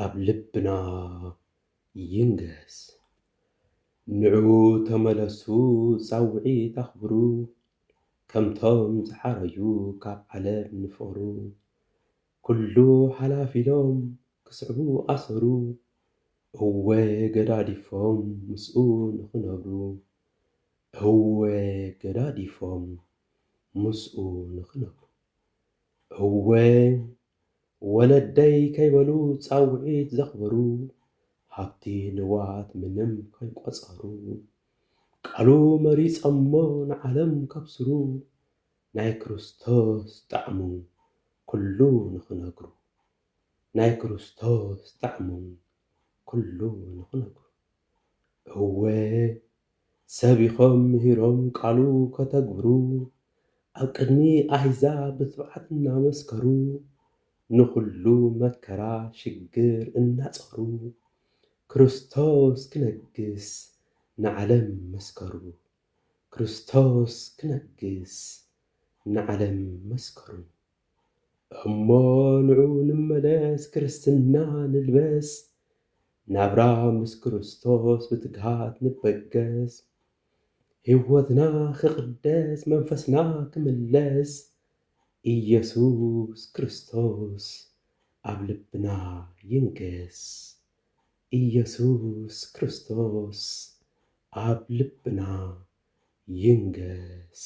ኣብ ልብና ይንገስ ንዑ ተመለሱ ጻውዒት ኣኽብሩ ከምቶም ዝሓረዩ ካብ ዓለም ንፈሩ ኩሉ ሓላፍ ኢሎም ክስዕቡ ኣሰሩ እወ ገዳዲፎም ምስኡ ንኽነብሩ እወ ገዳዲፎም ምስኡ ንኽነብሩ እወ ወለደይ ከይበሉ ጻውዒት ዘኽበሩ ሃብቲ ንዋት ምንም ከይቆጸሩ ቃሉ መሪጸሞ ንዓለም ከብስሩ ናይ ክርስቶስ ጣዕሙ ኩሉ ንኽነግሩ ናይ ክርስቶስ ጣዕሙ ኩሉ ንኽነግሩ እወ ሰብ ኢኾም ምሂሮም ቃሉ ከተግብሩ ኣብ ቅድሚ ኣህዛብ ብትብዓት እናመስከሩ ንኹሉ መከራ ሽግር እናጸሩ ክርስቶስ ክነግስ ንዓለም መስከሩ። ክርስቶስ ክነግስ ንዓለም መስከሩ እሞ ንዑ ንመለስ ክርስትና ንልበስ ናብራ ምስ ክርስቶስ ብትግሃት ንበገስ ሕይወትና ክቕደስ መንፈስና ክምለስ ኢየሱስ ክርስቶስ ኣብ ልብና ይንገስ ኢየሱስ ክርስቶስ ኣብ ልብና ይንገስ።